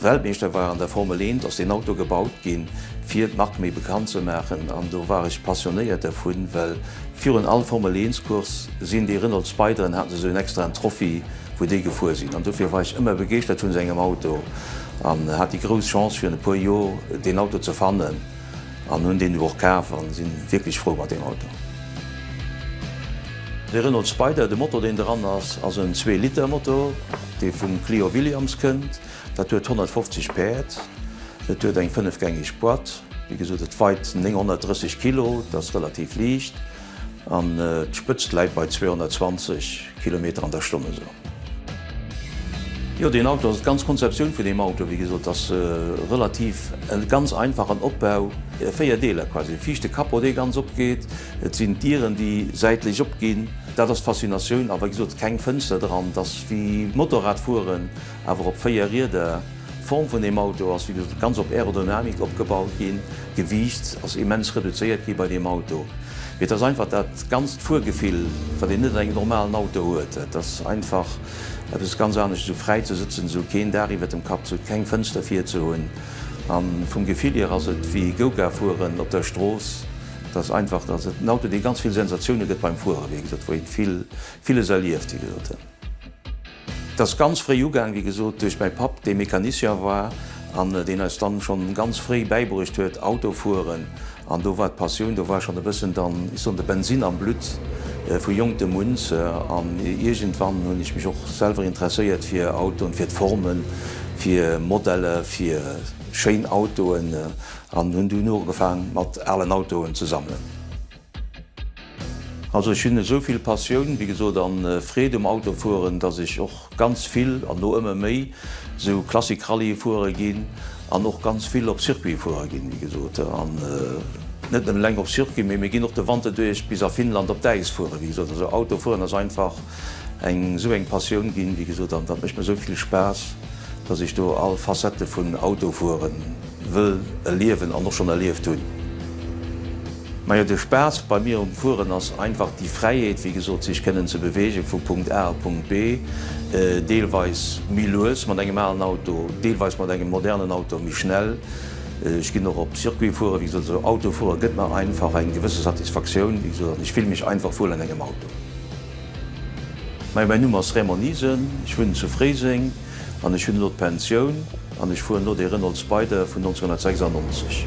Weltmeeschter war an der Formel 1 ass deen Auto gebaut ginn fir d'Mark méi bekannt ze maachen an do war ech passionéiert dervun, well virun all Formel 1 Course sinn déi Renault Spideren haten se sou en extraen Trophy wou déi gefuer sinn an dofir war ech ëmmer begeeschtert vun sengem Auto an hat déi grouss Chance virun e puer Jor deen Auto ze fannen an hunn deen du och kaf an sinn wierklech frou mat deem Auto. De Renault Spider, de Motor deen dran ass, ass en zwee Liter Motor. Dee vum Clio Williams kënnt, dat huet 150 Päerd, et huet eng fënnefgängeg Boîte, wéi gesot et weit 930 Kilo, et ass relativ liicht an d'Spëtzt läit bei 220 Kilometer an der Stonn esou. Jo deen Auto ass, d'ganz Konzeptioun vun deem Auto wéi gesot ass relativ e ganz einfachen Opbau, 4 Deeler quasi, viischte Capot dee ganz opgeet, et sinn d'Dieren déi säitlech opginn, Dat ass d'Faszinatioun a wei gesot keng Fënster dran. Et ass wéi Motorradfueren, awer op 4 Rieder. D'Form vun deem Auto ass wéi gesot ganz op Aerodynamik opgebaut ginn. D'Gewiicht ass immens reduzéiert gi bei deem Auto. Mee et ass einfach dat ganzt Fuergefill, wat een net an engem normalen Auto huet. Et ass einfach eppes ganz anescht esou fräi ze sëtzen, esou keen Daach iwwert dem Kapp ze hunn, keng Fënster vir ze hunn. A vum Gefill hier ass et wéi Go-Kart fueren op der Strooss. Et ass einfach, dass et en Auto, dee ganz vill Sensatioune gëtt beim Fueren, wéi gesot, wou ee vill, villes erlieft, wéi gesot. Et ass ganz fréi ugaang, wéi gesot, duerch mäi Papp, dee Mecanicien war an deen eis dann schonn ganz fréi bäibruecht huet, Auto fueren. An do war d'Passioun, do war schonn e bëssen dann, ech soen, de Bensin am Blutt vu jonkem un. An iergendwann hunn ech mech och selwer interesséiert fir Autoen, fir d'Formen, fir Modelle, fir schéin Autoen. An hunn dunn ugefaang mat alen Autoen ze sammelen. Also ech hunn esou vill Passioun, wéi gesot, a Freed um Autofueren, dass ech och ganz vill, an lo ëmmer méi, esou Classic-Rallye fuere ginn an och ganz vill op Circuit fuere ginn, wéi gesot. An net nëmmen eleng op Circuit, mee mir ginn och de Wanter duerch bis a Finnland op d'Äis fueren, wéi gesot. Also Autofueren ass einfach eng esou eng Passioun ginn, wéi gesot, an dat mécht mir esou vill Spaass, dass ech do all Facette vun Autofueren wëll erliewen an och schonn erlieft hunn. Majo de Spaass bei mir um Fueren ass einfach déi Fräiheet, wéi gesot, sech kënnen ze beweegen vu Punkt A a Punkt B, deelweis méi lues mat engem alen Auto, deelweis mat engem modernen Auto méi schnell. Ech ginn och op Circuit fueren, wéi gesot, also Auto fueren gëtt mer einfach eng gewësse Satisfaktioun, wéi gesot, an ech fille mech einfach wuel an engem Auto. Majo mäin Numm ass Raymond Niesen, ech wunnen zu Fréiseng an ech hunn elo d'Pensioun. An ech fueren elo dee Renault Spider vun 1996.